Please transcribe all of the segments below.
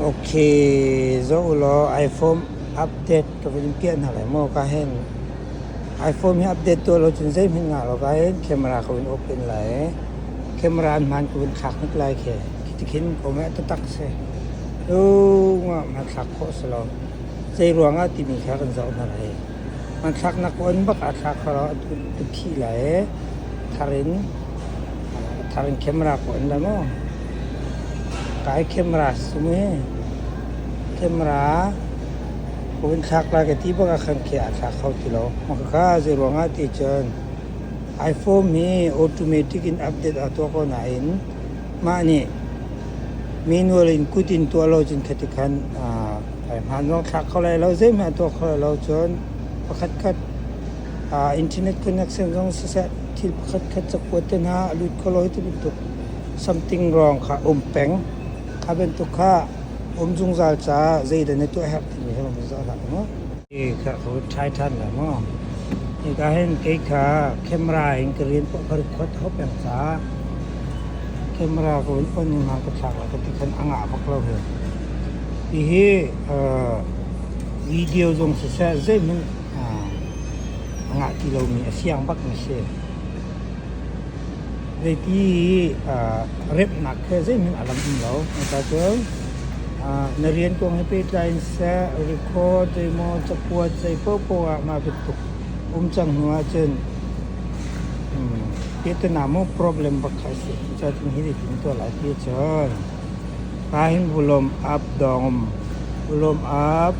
Ok, zoh ulaw iPhone update ka vun in piah hna lai maw ka hen. iPhone hi update tuah lo cun zeihmanh ngah lo ka hen camera ka vun open lai i camera an hmaan ka vun thlak hnik lai khi. Khiti khin kom hi a tatak si. Dungah hmanthlak khawh si lo. Zeiruangah timi kha kan zoh hna lai. Hmanthlaknak puan bak aa thla kho lo, a phih lai ee. Thar in, thar in camera puan dah maw? Kai camera su mu ee. Camera puan thlak lai ka ti bak ah khan khi aa thla kho ti lo. Makhakha zei ruangah ti cun iPhone hi automatic in update aa tuah ko nain mah nih manual in kut in tuah lo cun khatikhan Hai hmaan zong thlak kho lai lo, zeihmanh a tuah kho lai lo cun pakhatkhat uh, internet connection zong siseh thil pakhatkhat cakuat te hna a lut kho lo hi ti bantuk something wrong kha um peng. Kha bantuk kha um zungzal caah zeidah na tuah herh timi he um zungzal hlah maw. Hi kha ko thlai ṭhan la maw. Ni ka hen kei kha camera in ka rian pawh ka rit khot hop peng sa. Camera ko in on ning hang ka thlak la ka ti khan anga bak lo he. Hihi video zong siseh zeihmanh a ngah ti lomi a siang bak mi a si. Zeiti remhnak he zeihmanh a lang um lo. Cucun na rian kong he pehtlai in seh, record zeimaw cakuat zei paohpaoh ah mah bantuk um cang hnu ahcun tehte na maw problem bak kha a si. Cucun hi nih hin a tuah lai ti a si. Kain vulawm ap dawng, vulawm ap,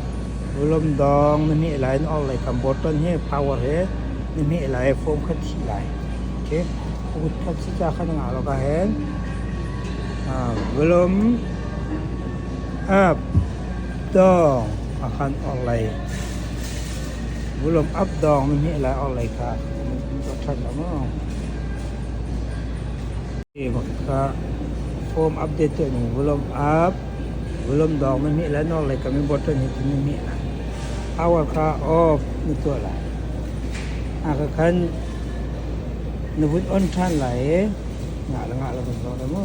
vulawm dawng na hmeh lai na orhlei kam botton hi power he na hmeh lai foam kha thih lai. Okay. Kut khat si ca khan ngah lawk ahhin vulawm ap dawng a khan orhlei vulawm ap dawng na hmeh lai orhlei kha na hmuh ṭhan lo maw? Kebak kha home update tuah ning volume up, volume dawng na hmih lai, nawr lei kam i button hi tu na hmih lai. Power kha off na tuah lai. Aka khan na vun on ṭhan lai i ngah le ngah le kan zawn e mu.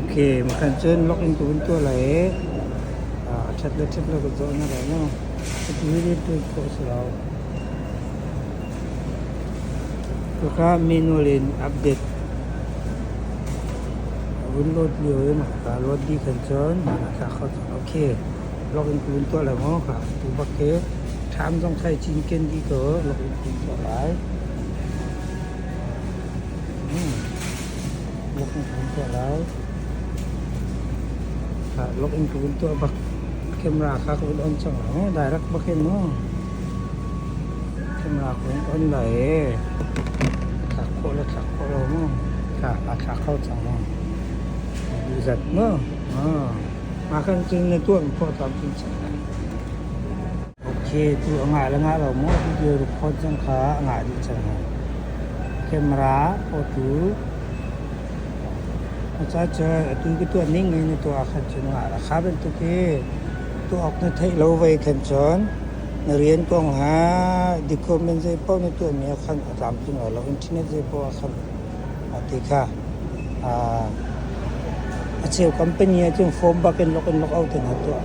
Ok, makan cun login ka vun tuah lai i a ṭhat le ṭhat le ka zawh na lai lo. Ka tu hi rian ṭuan khawh a si lo. Kaka manual in update a vun load lio i ka load dih khan cun tla kho cang. Ok, login ka vun tuah lai maw ka tu bak hi ṭham zong thai cinken dih ko login ka vun tuah lai. Lok in ka vun tuah lai. Lok in ka vun tuah bak camera kha ka vun on cang lo. Direct bak hin mu. Camera ka vun on lai ee. Thlak khawh lo, thlak khawh lo mu. A thlak kho cang mu. Bu zat mu. Mah kan cun na tuah mi pawh tam cun cang lai. Okay, tu a ngah le ngah lo maw video record cang kha a ngah dih cang hoi. Camera photo aca cu atu ka tuah ning in na tuah khan cun ngah la kha bantuk hi tuah awk na theih lo vei khan cun na rian kong le document zei paoh na tuahmi ah khan a tlamtling lo internet zei paoh ah khan a ti kha a cheu company ah cun form bak in log in log out in a tuah